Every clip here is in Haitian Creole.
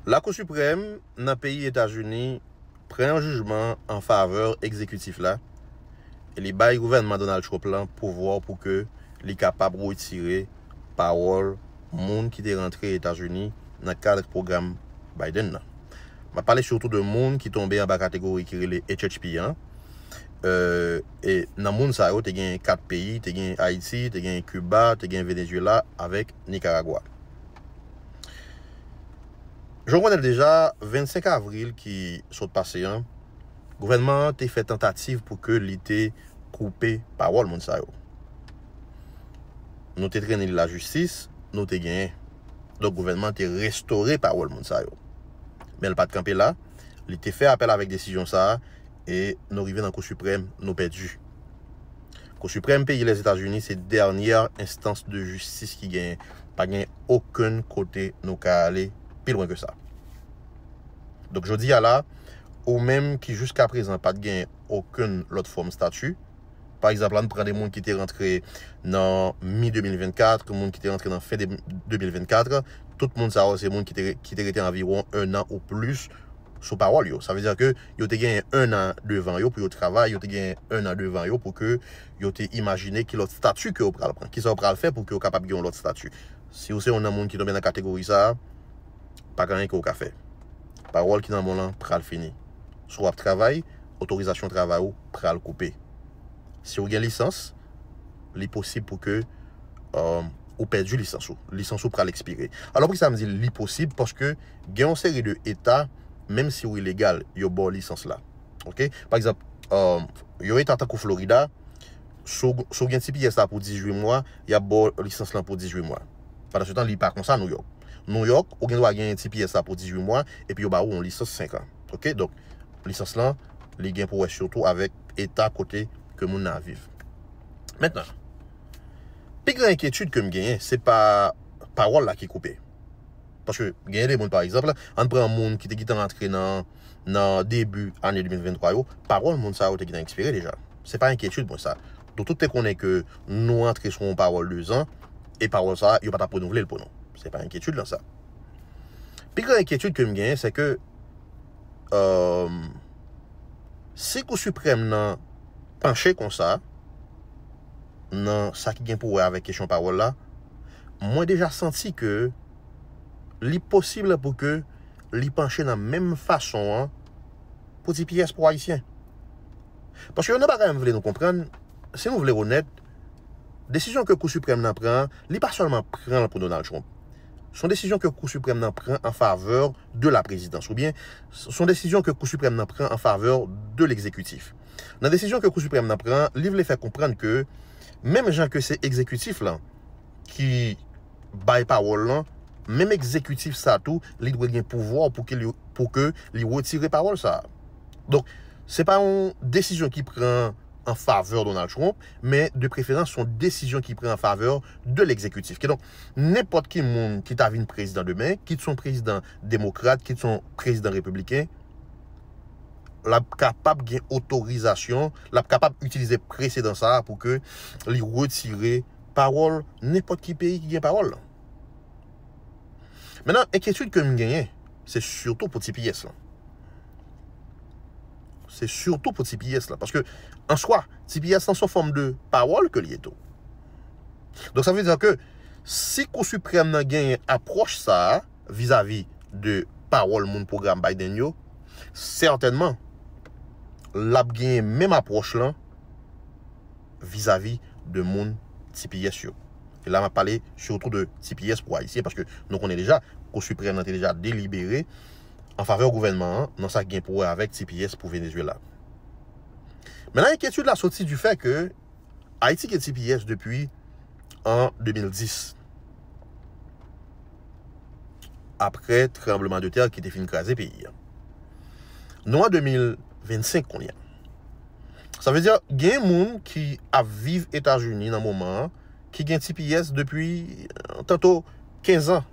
Lakou Siprèm nan peyi Etazini pran yon jijman an favè egzekitif la e li bay gouvènman Donald Trump la pouvwa pou ke li kapab retire pawòl moun ki te rantre Etazini nan kad pwogram Biden nan. Map pale sitou de moun ki tonbe anba kategori ki rele HHP an e nan moun sa yo te gen 4 peyi, te gen Ayiti, te gen Kiba, te gen Venezyela avèk Nikaragwa. Jan w konnen l deja, 25 avril ki sot pase an, gouvènman an te fè tantativ pou ke li te koupe pawòl moun sa yo. Nou te trennen li lajistis, nou te genyen. Donk gouvènman an te restore pawòl moun sa yo. Men l pa t kanpe la, li te fè apèl avèk desizyon sa a, e nou rive nan Kou Siprèm, nou pèdi. Kou Siprèm peyi Lèzetazini se dènyè enstans de jistis ki genyen. Pa gen okenn kote nou ka ale pi lwen ke sa. Donk jodi a la, ou menm ki jiska prezan pa t gen okenn lòt fòm stati, pa egzanp, ann pran de moun ki te rantre nan mi 2024, moun ki te rantre nan fen 2024, tout moun sa yo se moun ki te rete anviwon ennan ou plis, sou pawòl yo. Sa vle di ke yo te genyen 1 an devan yo pou yo travay, yo te genyen 1 an devan yo pou ke yo te imajine ki lòt stati ke yo pral pran, kisa yo pral fè pou ke yo kapab gen yon lòt stati. Si ou se yon nan moun ki tonbe nan kategori sa a, pa gen anyen ke ou ka fè. Pawòl ki nan men w lan pral fini. Si w ap travay, otorizasyon travay ou pral koupe. Si ou gen lisans, li posib pou ke ou pèdi lisans ou. Lisans ou pral ekspire. Alò poukisa m di li posib? Paske gen yon seri de eta menm si ou ilegal yo baw lisans la ok pa egzanp yon eta tankou Florida si ou gen tps la pou 18 mwa yap baw lisans lan pou 18 mwa pandansetan li pa konsa New York New York ou gen dwa gen tps la pou 18 mwa epi yo ba ou yon lisans 5 an ok donk lisans lan li gen pou wè sitou avèk eta kote ke moun nan ap viv mentnan pi gran enkyetid kem genyen se pa pawòl la ki koupe. Paske gen de moun pa egzanp, ann pran moun ki te gentan rantre nan nan debi ane 2023 yo, pawòl moun sa yo te gentan ekspire deja. Se pa enkyetid mwen sa. Nou tout te konnen ke nou rantre sou yon pawòl 2 zan e pawòl sa yo pa t ap renouvle l pou nou. Se pa enkyetid lan sa. Pi gran enkyetid ke m genyen se ke si kou siprèm nan panche konsa nan sa ki gen pou wè avèk kesyon pawòl la, mwen deja santi ke li posible pou ke li panche nan menm fason an pou ti pyès pou Ayisyen. Paske yon nan bagay m vle nou konprann, si nou vle onèt, desizyon ke Kou Siprèm nan pran an, li pa sèlman pran l pou Donald Trump. S on desizyon ke Kou Siprèm nan pran an favè de la prezidans, oubyen s on desizyon ke Kou Siprèm nan pran an favè de legzekitif. Nan desizyon ke Kou Siprèm nan pran an, li vle fè konprann ke menm jan ke se egzekitif lan, ki bay pawòl lan, menm egzekitif sa tou, li dwe gen pouvwa pou ke li, pou ke li retire pawòl sa. Donk, se pa yon desizyon ki pran an favè Donald Trump, men de preferans son desizyon ki pran an favè de legzekitif. Kidonk, nenpòt ki moun ki ta vin prezidan demen, kit son prezidan demokrat, kit son prezidan repibliken, l ap kapab gen otorizasyon, l ap kapab itilize presedan sa a pou ke li retire pawòl nenpòt ki peyi ki gen pawòl lan. Mennan, enkyetid ke m genyen, se sitou pou tps lan. Se sitou pou tps lan. Paske, an swa, tps lan son fòm de pawòl ke li ye tou. Donk sa vle di ke, si Kou Siprèm nan genyen apwòch sa a, vizavi de pawòl moun pwogram Biden yo, sètènman l ap genyen menm apwòch lan vizavi de moun tps yo. E la m ap pale sitou de tps pou Ayisyen paske nou konnen deja Kou Siprèm lan te deja delibere an favè gouvènman an nan sa ki gen pou wè avèk tps pou Venezuela. Menan enkyetid la soti di fè ke Ayiti gen tps depi an 2010 apre tranbleman de tè ki te fin kraze peyi a. Nou an 2025 kounye a. Sa vle di gen moun ki ap viv Etazini nan moman an ki gen tps depi tanto 15 an.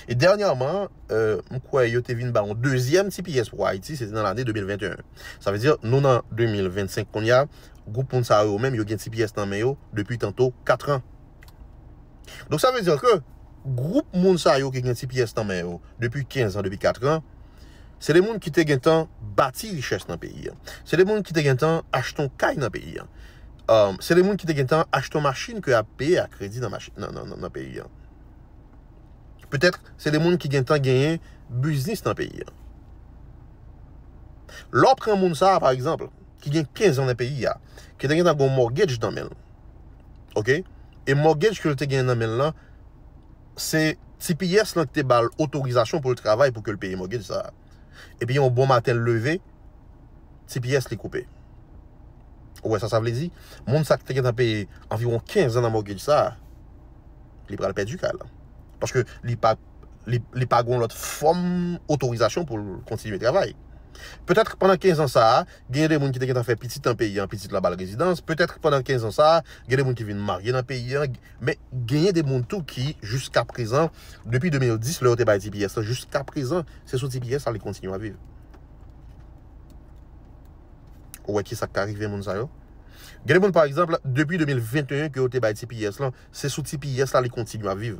E dènyaman, m kwè yo te vin ba yon dezyèm tps pou Ayiti, se te nan lane 2021. Sa vle di nou nan 2025 kounye a, gwoup moun sa yo menm yo gen tps nan men yo depi tanto 4 an. Donk sa vle di ke gwoup moun sa yo ki gen tps nan men yo depi 15 an, depi 4 an, se de moun ki te gen tan bati richès nan peyi an. Se de moun ki te gen tan achte yon kay nan peyi an. Se de moun ki te gen tan achte yon machin ke ap peye a kredi nan peyi an. Petèt se de moun ki gen tan genyen biznis nan peyi an. Lè w pran moun sa pa egzanp. ki gen 15 an nan peyi a, ki te gentan gon mortgage nan menl. Ok? E mortgage kel te gen nan menl lan, se tps lan ki te bal otorizasyon poul travay pou kel peye mortgage sa. Epi yon bon maten l leve, tps li koupe. Ou wè sa sa vle di? Moun sa ki te gentan peye anviwon 15 an nan mortgage sa, li pral pèdi kay lan. Paske li pa. li pa gon lòt fòm otorizasyon pou l kontinye travay. Petèt pandan 15 an sa a, genyen de moun ki te gentan fè pitit nan peyi an, pitit la ba l rezidans, petèt pandan 15 an sa a, gen de moun ki vin marye nan peyi an, men genyen de moun tou ki jiska prezan, depi 2010 lè yo te bay tps lan jiska prezan, se sou tps la li kontinye ap viv. Ou wè kisa k ka rive moun sa yo? Gen de moun pa egzanp, depi 2021 ke yo te bay tps lan, se sou tps la li kontinye ap viv.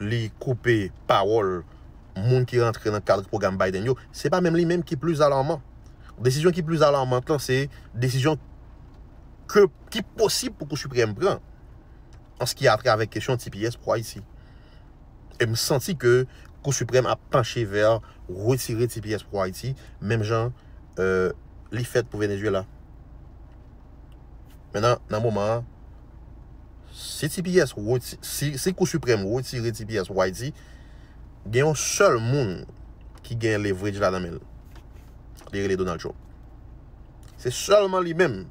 li koupe pawòl moun ki rantre nan kad pwogram Biden yo, se pa menm li menm ki plis alarman. Desizyon ki plis alarmant lan se desizyon ke ki posib pou Kou Siprèm pran an se ki a trè avèk kesyon tps pou Ayiti. E m santi ke Kou Siprèm ap panche vè retire tps pou Ayiti menm jan li fèt pou Venezuela. Mennan nan moman an. Si tps si kou siprèm retire tps pou ayiti gen yon sèl moun ki gen leverage la nan menl li rele Donald Trump se sèlman li menm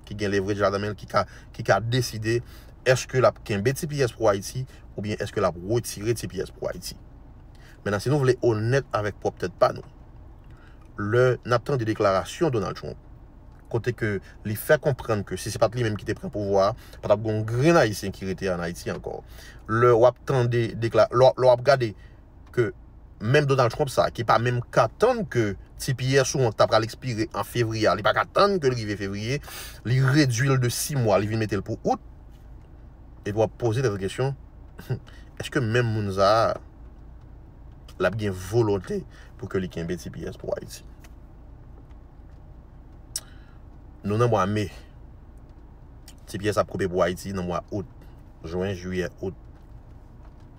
ki gen leverage la nan menl ki ka ki ka deside eske lap kenbe tps pou ayiti oubyen eske lap retire tps pou ayiti menan si nou vle onèt avèk pwòp tèt pa nou lè nap tande deklarasyon Donald Trump kote ke li fè konprann ke si se pat li menm ki te pran pouvwa a, pa tap gen yon grenn ayisyen ki rete an Ayiti ankò. Lè wap tande dekla, lè w ap gade ke menm Donald Trump sa ki pa menm ka tann ke tps ou an ki ta pral ekspire an fevriye a, li pa ka tann ke l rive fevriye, li redui l de 6 mwa, li vin mete l pou out, epi w ap poze tèt ou kesyon, èske menm moun sa a, l ap gen volonte pou ke li kenbe tps pou Ayiti? Nou nan mwa me. Ti pyès ap koupe pou Ayiti nan mwa out. Jwen, jiyè, out.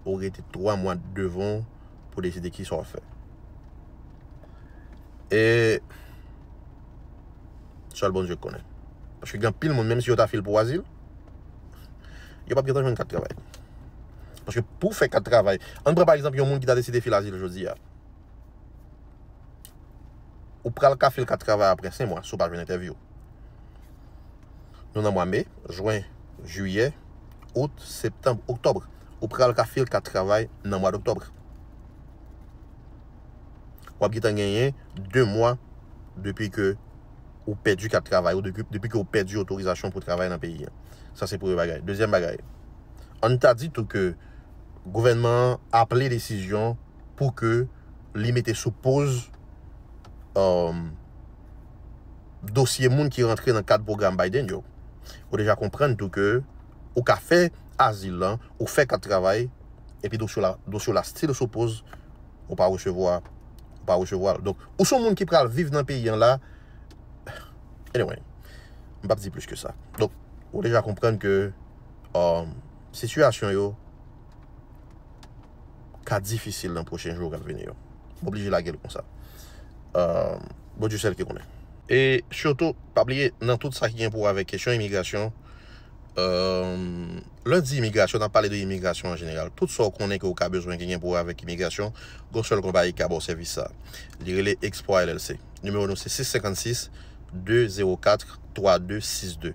Ou rete 3 mwa devan w pou deside kisa w fè. E sèl Bondye k konnen. Paske gen anpil moun menm si yo ta fil pou azil, yo pap gentan jwenn kat travay. Paske pou w fè kat travay, ann pran pa egzanp yon moun ki ta deside fil azil jodi a. Ou pral ka fil kat travay apre 5 mwa si w pa jwenn entèvyou. Nou nan mwa me, jwen, jiyè, out, septanb, oktòb. Ou pral ka fil kat travay nan mwad oktòb. Wap gentan genyen 2 mwa depi ke ou pèdi kat travay ou, depi ke ou pèdi otorizasyon pou travay nan peyi an. Sa se premye bagay. Dezyèm bagay, ann ta di tou ke gouvènman an aple desizyon pou ke li mete sou poz dosye moun ki rantre nan kad pwogram Biden yo. Ou deja konprann tou ke ou ka fè azil lan, ou fè kat travay, epi dosye w la, dosye w la stil sou poz, ou pa resevwa, ou pa resevwa l. Donk, ou se yon moun ki pral viv nan peyi an la, anyway, m pap di plis ke sa. Donk, ou deja konprann ke sitiyasyon yo. ka difisil nan pwochen jou kap vini yo. M oblije lagel konsa. Bondye sèl ki konnen. E sitou pa bliye nan tout sa ki gen pou wè avèk kesyon imigrasyon lè n di imigrasyon nap pale de imigrasyon an jeneral tout sa ou konnen ke ou ka bezwen ki gen pou wè avèk imigrasyon gen yon sèl konpayi ki ka ba w sèvis sa li rele Exploit LLC nimewo nou se 656 204 3262.